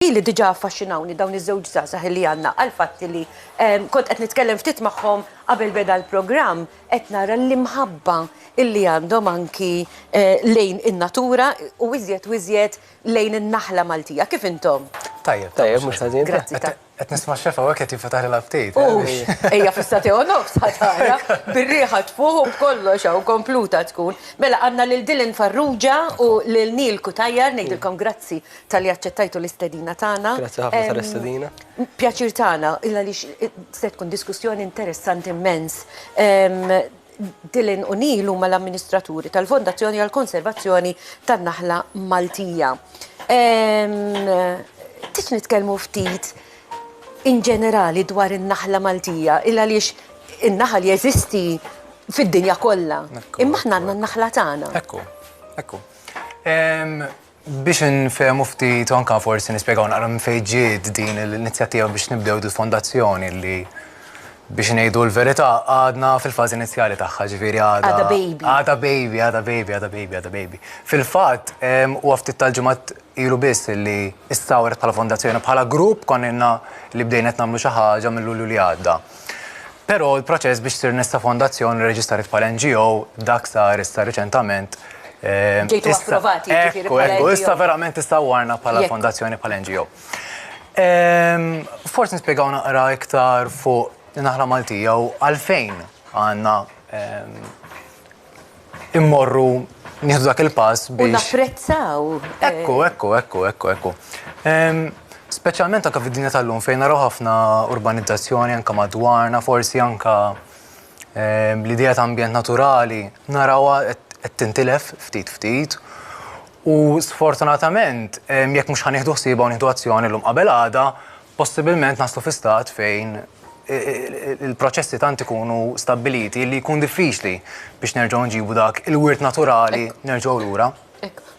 Ili diġà affaxxinawni dawn iż-żewġ żgħażagħ illi għandna għall-fatt illi kont qed nitkellem ftit magħhom qabel beda l-programm qed nara l-imħabba illi għandhom anki lejn in-natura u iżjed u iżjed lejn in-naħla Maltija. Kif intom? Tajjeb. Tajjeb, mhux ħażin. Grazzi ta. Qed nisma' x-xef hawnhekk qed jinfetaħ l-aptit. Ux! Ejja fis-sagħtejn u nofs ħa tara, bir-riħa tfuħ u b'kollox hawn kompluta tkun. Mela għandna lil Dylan Farrugia u lil Neil Cutajar ngħidilkom grazzi tal-li aċċettajtu l-istedina tagħna. Grazzi ħafna tal-istedina. Pjaċir tagħna, illa li se tkun diskussjoni interessanti immens. Dylan u Neil huma l-amministraturi tal-Fondazzjoni għall-Konservazzjoni tan-Naħla Maltija. Tix nitkellmu ftit in ġenerali dwar in-naħla Maltija, illa li in-naħal jeżisti fid-dinja kollha. Imma aħna għandna n-naħla tagħna. Ekku, ekku. Biex infehmu ftit u anke forsi nispjegaw naqra minn fejn ġiet din l-inizjattiva biex nibdew din fondazzjoni li biex ngħidu l-verità għadna fil-fażi inizjali tagħha, ġifieri għadha. Għadha baby. Għadha baby, għadha baby, għadha baby, għadha baby. Fil-fatt, huwa ftit tal-ġimgħat ilu biss li stawret bħala fondazzjoni, bħala grupp konna ilna li bdejna qed nagħmlu xi ħaġa minn Lulju li għadda. Però l-proċess biex sir nista' fondazzjoni rreġistrat bħala NGO dak sar issa riċentament. Ġejtu approvati ġifieri bħala NGO. Ekku, ekku, issa verament tista' warna bħala fondazzjoni bħala NGO. Forsi nispjegaw naqra iktar fuq Naħla Maltija u għalfejn għandna immorru nieħdu dak il-pass biex. U napprezzaw. Eh. Ekku, ekku, ekku, ekku, ekku. Speċjalment anka fid-dinja tal-lum fejn naraw ħafna urbanizzazzjoni anka madwarna, forsi anka l-idea ta' ambjent naturali, narawha qed tintilef ftit ftit. U sfortunatament, jekk mhux ħanieħdu ħsieba u nieħdu azzjoni l-lum qabel għada, possibilment naslu fi stat fejn il-proċessi tant ikunu stabbiliti li jkun diffiċli biex nerġgħu nġibu dak il-wirt naturali nerġgħu lura.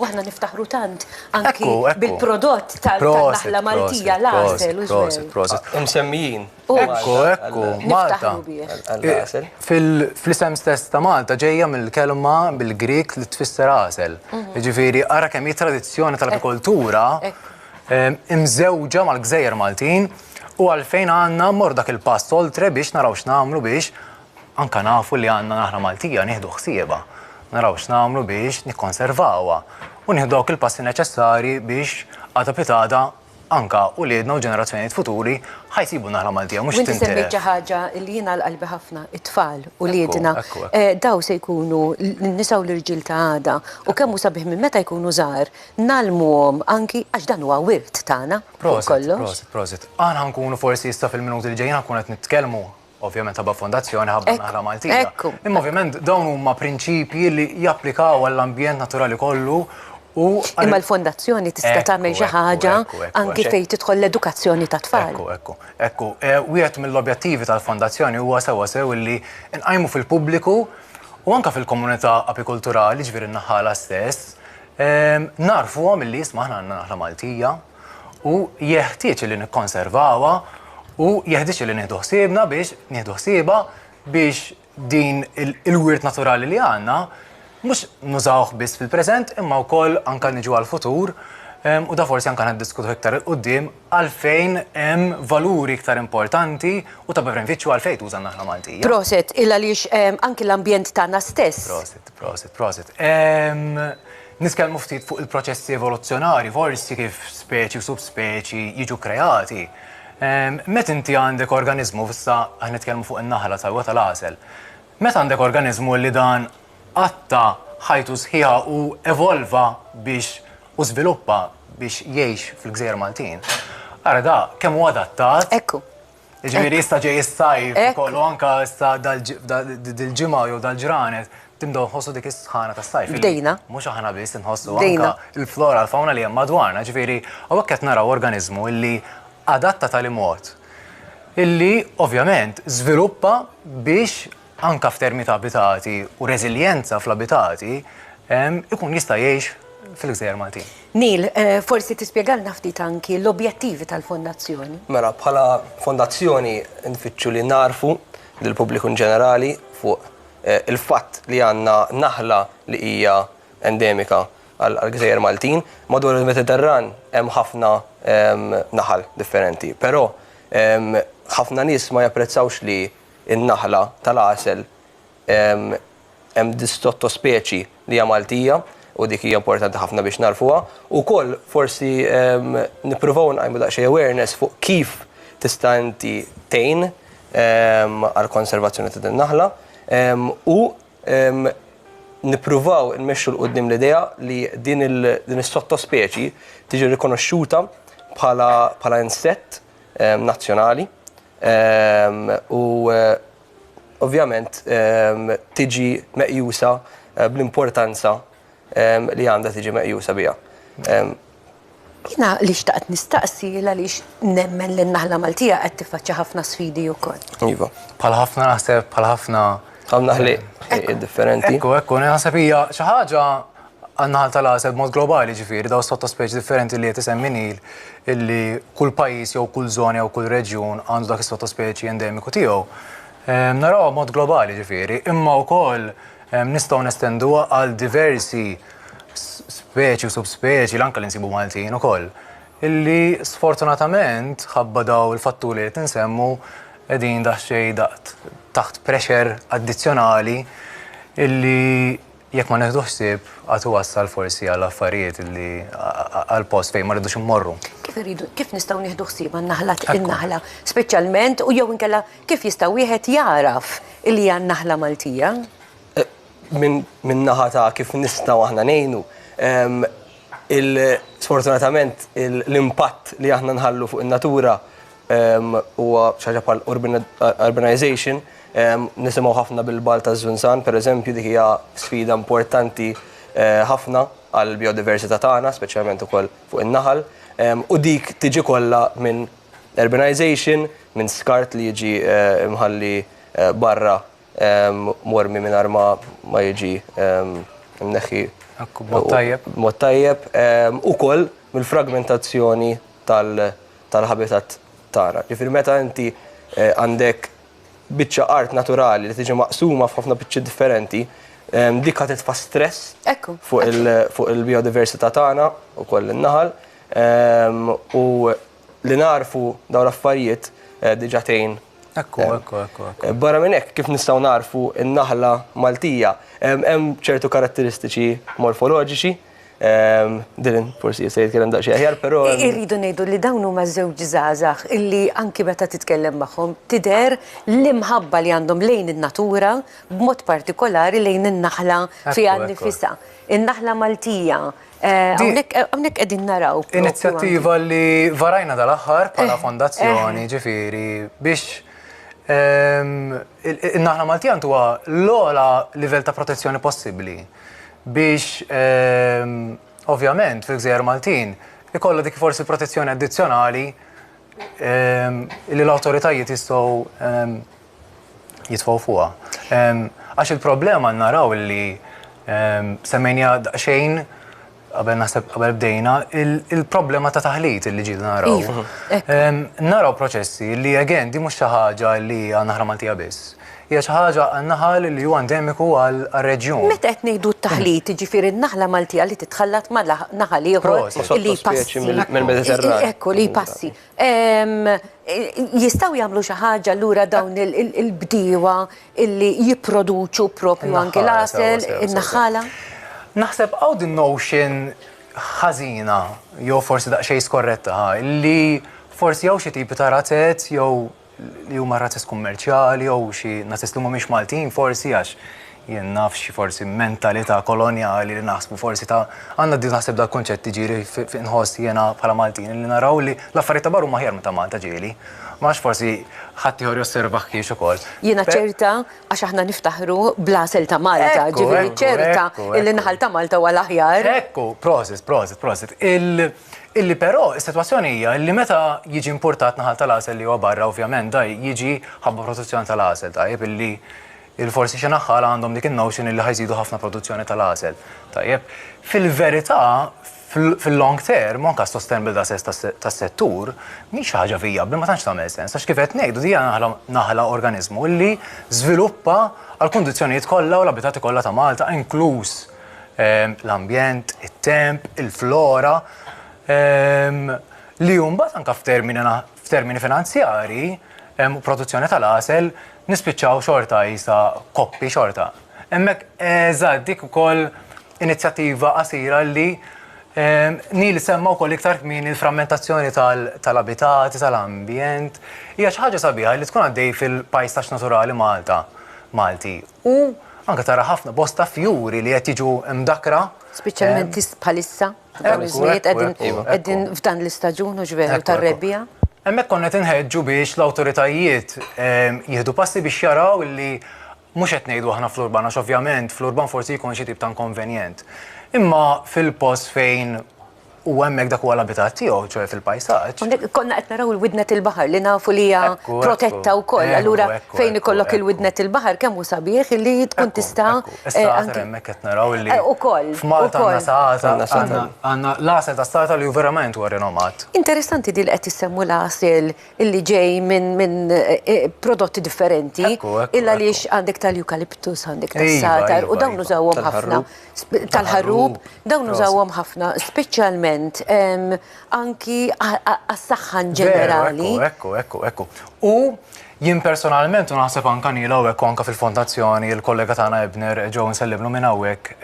Waħna niftaħru tant anki bil-prodott tal-naħla Maltija l-għasel u l-għasel. Prosit, imsemmijin. Ekku, ekku, Malta. Fil-isem stess ta' Malta ġejja mill-kelma bil-Grik li tfisser għasel. Mhm. Ġifiri, ara kemm tradizzjoni tal-agrikoltura imżewġa mal-gżejjer Maltin u għalfejn għandna mmorru dak il-pass oltre biex naraw x'nagħmlu biex anke nafu li għandna naħra Maltija nieħdu ħsiebha, naraw x'nagħmlu biex nikkonservawha u nieħdu dawk il-passi neċessarji biex għada pitgħada anke uliedna u ġenerazzjonijiet futuri ħa jsibu n-naħra Maltija mhux tintilef. U inti semmejt xi ħaġa li jiena għal qalbi ħafna, it-tfal, uliedna. Dawn se jkunu n-nisa u l-irġiel ta' għada u kemm hu sabiħ minn meta jkunu żgħar, ngħallmuhom anki għax dan huwa wirt tagħna fuq kollox. Prosit, prosit, prosit. Aħna ħankunu forsi issa fil-minuti li ġejjin ħankun qed nitkellmu ovvjament ħabba fondazzjoni ħabba naħla Maltija. Imma ovvjament dawn huma prinċipji li japplikaw għall-ambjent naturali kollu u. Imma l-fondazzjoni tista' tagħmel xi ħaġa anki fejn tidħol l-edukazzjoni tat-tfal. Ekku, ekku, ekku. Wieħed mill-objettivi tal-fondazzjoni huwa sewwa sew illi nqajmu fil-pubbliku u anke fil-komunità apikulturali, ġifieri n-naħħala stess, Nagħrfuhom illi isma' aħna għandna naħla Maltija u jeħtieġ li nikkonservawha u jeħtieġ li nieħdu ħsiebna biex nieħdu ħsiebha biex din il-wirt naturali li għandna mhux nużawh biss fil-preżent imma wkoll anke niġu għall-futur u da forsi anke niddiskutuh iktar 'il quddiem. għalfejn hemm valuri iktar importanti u ta' bevenfiċċju għalfejn tuża n-naħla Maltija. Prosit, il għaliex ehm, anki l-ambjent tagħna stess. Prosit, prosit, prosit. Ehm, Niskellmu ftit fuq il-proċessi evoluzzjonari, forsi kif speċi u subspeċi jiġu kreati. Ehm, met inti għandek organizmu, fissa għan nitkellmu fuq in-naħla tal tal-għasel. Met għandek organizmu li dan qatta' ħajtu sħiħa u evolva biex u żviluppa biex jgħix fil-gżejjer Maltin, ara da kemm hu adattat. Ekku. Jiġifieri issa ġej is-sajf ukoll u anke issa dil-ġimgħa jew dal-ġranet tibdew tħossu dik is-sħana tas-sajf. Bdejna. Mhux aħna biss inħossu anke l-flora, l-fawna li hemm madwarna. Jiġifieri hawnhekk qed naraw organiżmu li adatta tal-imgħod illi ovvjament żviluppa biex anke f'termini ta' abitati u reżiljenza fl-abitati, ikun jista' jgħix fil-gżejjer Maltin. Neil, forsi tispjegalna ftit anki l-objettivi tal-Fondazzjoni? Mela, bħala Fondazzjoni nfittxu li nagħrfu lill-pubbliku inġenerali fuq il-fatt li għandna naħla li hija endemika għall-gżejjer Maltin. Madwar il-Mediterran hemm ħafna naħal differenti, però ħafna nies ma japprezzawx li in-naħla tal-għasel hemm sotto-speċi li hija Maltija u dik hija importanti ħafna biex nagħrfuha. Ukoll forsi nippruvaw nqajmu daqsxejn awareness fuq kif tista' inti tgħin għall-konservazzjoni ta' din in-naħla u nippruvaw immexxu 'l quddiem l-idea li din is-sotto-speċi tiġi rikonoxxuta bħala insett nazzjonali u ovvjament tiġi meqjusa bl-importanza li għandha tiġi meqjusa biha. Jiena li xtaqt nistaqsi hi għaliex nemmen li n-naħla Maltija qed tiffaċċja ħafna sfidi wkoll. Iva. Bħal ħafna naħseb, bħal ħafna. Bħal naħliet differenti. Ekku, ekku, naħseb hija xi ħaġa Għan-naħal tal-għasel b'mod globali, jiġifieri dawn is-sottospeċi differenti li qed isemmi Neil, illi kull pajjiż jew kull żona jew kull reġjun għandu dak is-sottospeċi endemiku tiegħu, narawha b'mod globali, jiġifieri, imma wkoll nistgħu nestenduha għal diversi speċi u subspeċi, l-anke li nsibu Maltin ukoll, illi sfortunatament, ħabba dawn il-fatturi li qed insemmu, qegħdin daqsxejn taħt pressure addizzjonali illi, Jekk ma nieħdux ħsieb, għad iwassal forsi għal affarijiet li għal post fejn ma rridux immorru. Kif irridu, kif nistgħu nieħdu ħsieb għan-naħla, in-naħla speċjalment u jew inkella kif jista' wieħed jagħraf li hija n-naħla Maltija? Minn naħa ta' kif nistgħu aħna ngħinu, sfortunatament l-impatt li aħna nħallu fuq in-natura huwa xi ħaġa bħal urbanization, nisimgħu ħafna bil-Balt taż-Żunżan, pereżempju, dik hija sfida importanti ħafna għall-bijodiversità tagħna, speċjalment ukoll fuq in-naħal, u dik tiġi kollha minn urbanization, minn skart li jiġi mħalli barra mormi mingħajr ma jiġi mneħħi b'mod tajjeb, ukoll mill-fragmentazzjoni tal-habitat tagħna. Ġifieri meta inti għandek biċċa art naturali li tiġi maqsuma f'ħafna biċċiet differenti, dik ħa titfa' stress fuq il-biodiversità tagħna u koll in-naħal. U li nagħrfu dawn l-affarijiet diġà tgħin. Ekku, ekku, ekku. Barra minn hekk, kif nistgħu nagħrfu n-naħla Maltija, hemm ċertu karatteristiċi morfoloġiċi. Ehm, Dylan, forsi jista' jitkellem daqsxejn aħjar, però. Irridu ngħidu li dawn huma żewġ żgħażagħ illi anki meta titkellem magħhom tidher l-imħabba li għandhom lejn in-natura b'mod partikolari lejn in-naħla fiha nnifisha. In-naħla Maltija. Eh, hawnhekk eh, qegħdin naraw. Inizjattiva li varajna dal-aħħar bħala eh, fondazzjoni ġifieri biex ehm, in-naħla Maltija huwa l-ogħla livell ta' protezzjoni possibbli. biex ovvjament fil-gżejjer Maltin ikollha dik forsi protezzjoni addizzjonali li l-awtoritajiet jistgħu jitfgħu fuqha. Għax il-problema naraw li semmejnija daqsxejn qabel naħseb qabel bdejna, il-problema ta' taħlit li ġidu naraw. Iva, ehm, naraw proċessi li again di mhux xi ħaġa li għandna ħra Maltija biss. Hija xi ħaġa naħal li huwa endemiku għal reġjun. Meta qed ngħidu t-taħlit, ġifieri n-naħla Maltija li titħallat ma' naħal ieħor li passi. Ekku li passi. Jistgħu jagħmlu xi ħaġa allura dawn il-bdiewa illi jipproduċu propju anke l-għasel, in-naħħala? Naħseb hawn din notion ħażina jew forsi daqsxejn skorretta li forsi hawn xi tipi ta' razez jew li huma razzist kummerċjali jew xi nazzist li mhumiex Maltin forsi għax jien naf xi forsi mentalità kolonjali li naħsbu forsi ta' għandna di naħseb dak kunċett ġieli nħoss jiena bħala Maltin li naraw li l-affarijiet ta' barra huma ħjar minn ta' Malta ġieli. Ma nafx forsi ħadd ieħor josservah kiex ukoll. Jiena ċerta għax aħna niftaħru bl-għasel ta' Malta, ġifieri ċerta li n-naħal ta' Malta huwa l-aħjar. Ekku, prosit, prosit, prosit. Illi però is-sitwazzjoni hija illi meta jiġi impurtat naħal tal-għasel li huwa barra ovvjament da jiġi ħabba produzzjoni tal-għasel tajjeb illi il-forsi xi naħħala għandhom dik in-notion illi ħa jżidu ħafna produzzjoni tal-għasel tajjeb. Fil-verità fil-long term u anke għas-sustainable assets tas-settur mhix xi ħaġa vijabbli ma tantx tagħmel sens għax kif qed ngħidu din hija naħla naħla organiżmu illi żviluppa għall-kundizzjonijiet kollha u l-abitati kollha ta' Malta inkluż l-ambjent, it-temp, il-flora, li mbagħad anke f'termini finanzjarji u produzzjoni tal-għasel nispiċċaw xorta qisha koppi xorta. Hemmhekk eżatt dik ukoll inizjattiva qasira li Neil semma wkoll iktar kmieni l-frammentazzjoni tal-abitati, tal-ambjent, hija xi ħaġa sabiħa li tkun għaddej fil-pajsaġġ naturali Malta, Malti. u anke tara ħafna bosta fjuri li qed jiġu mdakkra. Speċjalment bħalissa, dawn iż-żminijiet qegħdin f'dan l-istaġun u ġveru tar-rebbiegħa. Hemmhekk konna qed inħeġġu biex l-awtoritajiet jieħdu passi biex jaraw li mhux qed ngħidu aħna fl-urban għax ovvjament fl-urban forsi jkun xi tip ta' inkonvenjent. Imma fil-post fejn U hemmhekk dak huwa l-abitat tiegħu, ċoe fil-pajsaġġ. Hawnhekk konna qed naraw il-widnet il-baħar li nafu li hija protetta wkoll. Allura fejn ikollok il-widnet il-baħar kemm hu sabiħ li tkun tista' Is-saħatar hemmhekk qed naraw li Ukoll. F'Malta għandna saħatar għandna l-għasel tas-saħatar li hu verament huwa rinomat. Interessanti din li qed issemmu l-għasel li ġej minn prodotti differenti. Ekku, ekku. Illa għaliex għandek tal-eucalyptus, għandek tas-saħatar u dawn nużawhom ħafna. tal-ħarrub, dawn użawhom ħafna, speċjalment anki għas-saħħa ġenerali. Ekku, ekku, ekku. U jien personalment, u naħseb anka nila u ekku anka fil-fondazzjoni, il-kollega tagħna Ebner, ġew nsellimlu minn hawnhekk,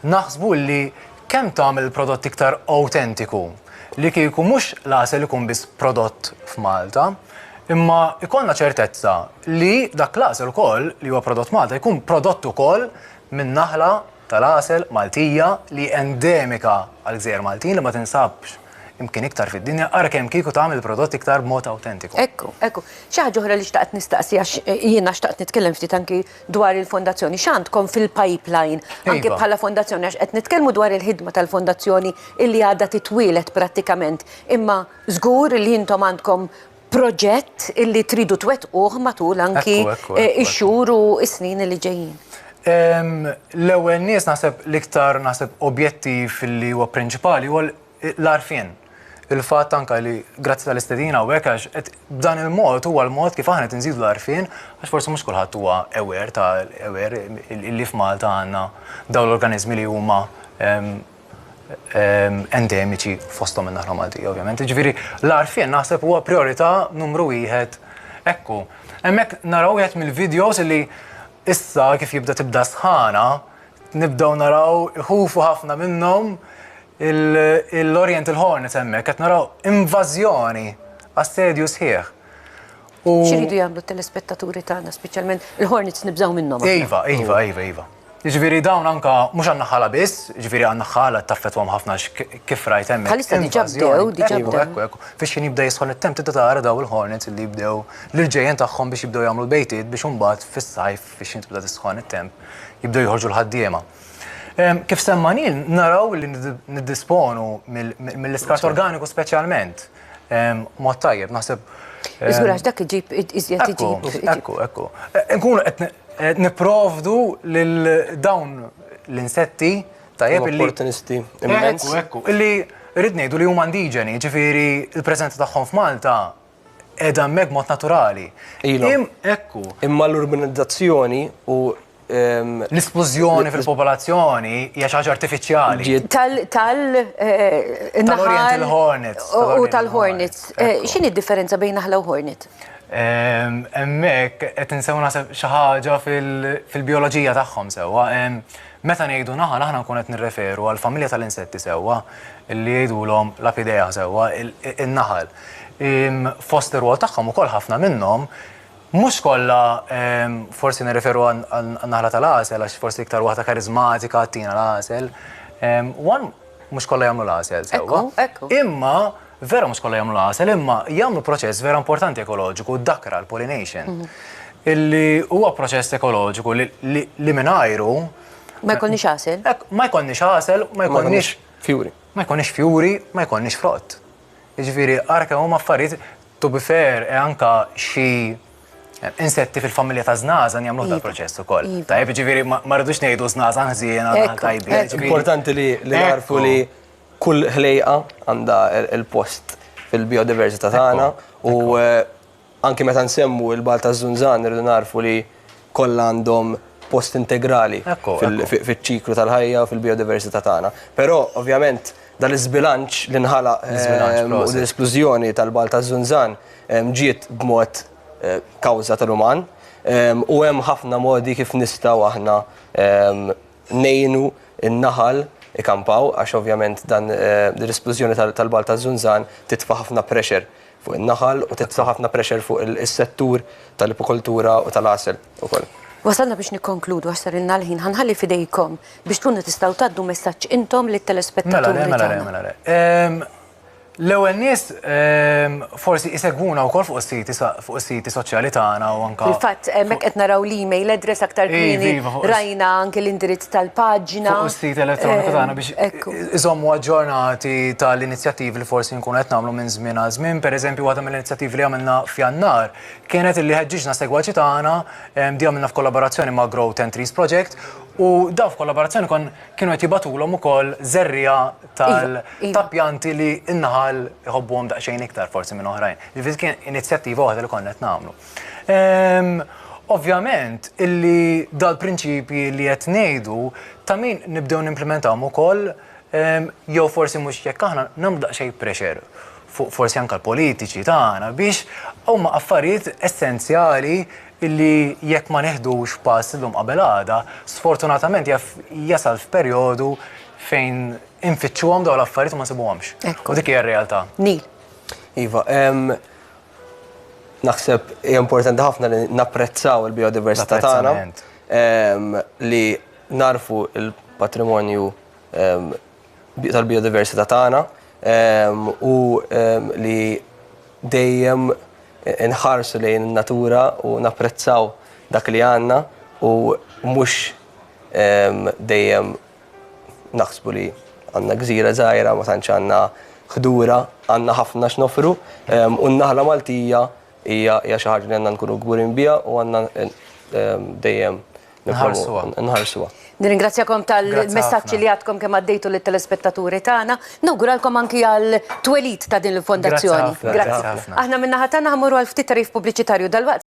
naħsbu li kemm tagħmel il-prodott iktar awtentiku li kieku mhux l-għasel ikun biss prodott f'Malta, imma ikollna ċertezza li dak l-għasel ukoll li huwa prodott Malta jkun prodott ukoll min-naħla tal-għasel Maltija li hi endemika għall-gżejjer Maltin li ma tinsabx imkien iktar fid-dinja, ara kemm kieku tagħmel il-prodott iktar b'mod awtentiku. Ekku, ekku. Xi ħaġa oħra li xtaqt nistaqsi għax jiena xtaqt nitkellem ftit anki dwar il-fondazzjoni. X'għandkom fil-pipeline anki bħala fondazzjoni għax qed nitkellmu dwar il-ħidma tal-fondazzjoni illi għadha titwieled prattikament imma żgur li intom għandkom proġett illi tridu twettquh matul anki ix-xhur u s-snin li ġejjin? L-ewwel nies naħseb l-iktar naħseb objettiv li huwa prinċipali huwa l-arfien. Il-fatt anke li grazzi tal-istedina u hekk għax qed b'dan il-mod huwa l-mod kif aħna qed inżidu l-arfien għax forsi mhux kulħadd huwa aware ta' aware li f'Malta għandna dawn l-organiżmi li huma endemiċi fosthom in-Naħla Maltija ovvjament. Jiġifieri l-għarfien naħseb huwa priorità numru wieħed ekku. Hemmhekk naraw wieħed mill-videos li issa kif jibda tibda sħana nibdew naraw iħufu ħafna minnhom l-Oriental Hornets hemmhekk qed naraw invażjoni assedju sħiħ. Xiridu jagħmlu t-telespettaturi tagħna, speċjalment il-Hornets nibżgħu minnhom. Iva, iva, iva, iva. Ġifieri dawn anka mhux għandna ħala biss, ġifieri għandna ħala taffetwhom ħafna kif rajt hemm. Bħalissa diġà bdew, diġà bdew. Ekku, ekku. Fiex kien jibda jisħol it-temp tibda tara daw il-Hornets li jibdew l-irġejjen tagħhom biex jibdew jagħmlu bejtiet biex imbagħad fis-sajf fiex jintibda tisħon it-temp jibdew joħorġu l-ħaddiema. Kif semmanin, naraw li niddisponu mill-iskart organiku speċjalment. Mod tajjeb, naħseb. Iżgur għax dak iġib iżjed iġib. Ekku, ekku. Nkunu qed nipprovdu lil dawn l-insetti tajjeb li. Opportunisti. Ekku, ekku. Illi rrid ngħidu li huma indiġeni, ġifieri l-preżenza tagħhom f'Malta edha meg mod naturali. Ilhom. Ekku. Imma l-urbanizzazzjoni u L-isplużjoni fil-popolazzjoni hija xi ħaġa artifiċjali. Tal tal tal hornets U tal-hornets. X'inhi d-differenza bejn naħla u hornet? Hemmhekk qed insew naħseb xi ħaġa fil-bijoloġija tagħhom sewwa. Meta ngħidu naħal aħna nkun qed nirreferu għall-familja tal-insetti sewwa li jgħidulhom l-Apidaea sewwa, in-naħal. Fost ir-rwol tagħhom ukoll ħafna minnhom Mhux kollha, forsi nirreferu għan-naħla tal-għasel għax forsi iktar waħda kariżmatika tina l-għasel. One, mhux kollha jagħmlu l-għasel sewwa. Imma, vera mhux kollha jagħmlu l-għasel, imma jagħmlu proċess vera importanti ekoloġiku, d-dakra, l-pollination, illi huwa proċess ekoloġiku li mingħajru. Ma jkollniex għasel. Ma jkollniex għasel, ma jkollniex. Fjuri. Ma jkollniex fjuri, ma jkollniex frott. Jiġifieri ara kemm huma affarijiet to be fair e anka xi insetti fil-familja ta' żnażan jagħmlu dan proċess ukoll. Iva. Tajjeb, jiġifieri ma rridux ngħidu żnażan ħżiena tajbin. Jiġifieri importanti li narfu li kull ħlejqa għandha il-post fil-biodiversità tagħna u Anki meta nsemmu il-Balt taż-Żunżan irridu nagħrfu li kollha għandhom post integrali fiċ-ċiklu tal-ħajja u fil-bijodiversità tagħna. Però, ovvjament, dan l-iżbilanċ li nħalaq u din l-esklużjoni tal-Balt taż-Żunżan ġiet b'mod kawża tal-uman u hemm ħafna modi kif nistgħu aħna ngħinu n-naħal ikampaw għax ovvjament dan din l-isplużjoni tal-Balt taż-Żunżan titfa' ħafna pressure fuq in-naħal u titfa' ħafna pressure fuq is-settur tal-ipukoltura u tal-għasel ukoll. Wasalna biex nikkonkludu għax sarilna l-ħin. Ħa nħalli f'idejkom biex tkunu tistgħu tgħaddu messaġġ intom lit-telespettaturi tagħna. Mela le, mela le, mela le. L-ewwel nies ehm, forsi isegwuna wkoll fuq is-siti fuq is-siti soċjali tagħna u anke. Fil-fatt hemmhekk qed naraw l-email address aktar kmieni rajna anke l-indirizz tal-paġna. Fuq is-sit elettroniku tagħna ehm, biex iżommu aġġornati tal-inizjattivi li forsi nkunu qed nagħmlu minn żmien għal żmien. Pereżempju waħda mill-inizjattivi li għamilna f'Jannar kienet li ħeġġiġna segwaċi tagħna ehm, di għamilna f'kollaborazzjoni ma' Grow Ten Trees Project u daw f'kollaborazzjoni kon Kienu qed jibgħatulhom ukoll żerriegħa tal- Iva, iva. ta' pjanti li n-naħal iħobbuhom daqsxejn iktar forsi minn oħrajn. Jiġifieri dik kien inizjattiva waħda li konna qed nagħmlu. Ehm, Ovvjament illi dal-prinċipji li qed ngħidu ta' min nibdew nimplementawhom ukoll ehm, jew forsi mhux jekk aħna nagħmlu daqsxejn pressure fuq forsi anke l-politiċi tagħna biex huma affarijiet essenzjali illi jekk ma neħdux pass illum qabel għada, sfortunatament jaf jasal f'perjodu fejn infittxuhom dawn l-affarijiet u ma nsibuhomx. U dik hija r-realtà. Nil. Iva, naħseb hija importanti ħafna li napprezzaw il-biodiversità tagħna li narfu l-patrimonju tal-biodiversità tagħna u li dejjem inħarsu lejn in-natura u napprezzaw dak li għandna u mhux dejjem naħsbu li għandna gżira żgħira ma tantx għandna ħdura, għandna ħafna x'nofru u n-naħla Maltija hija xi ħaġa li għandna nkunu kburin biha u għandna dejjem nħarsuha. Nirringrazzjakom tal-messaġġi li għadkom kemm għaddejtu lit-telespettaturi tagħna. Nawguralkom anki għall-twelid ta' din il-fondazzjoni. Grazzi ħafna. Aħna min-naħa tagħna ħa mmorru għal ftit tagħrif pubbliċitarju dalwaqt.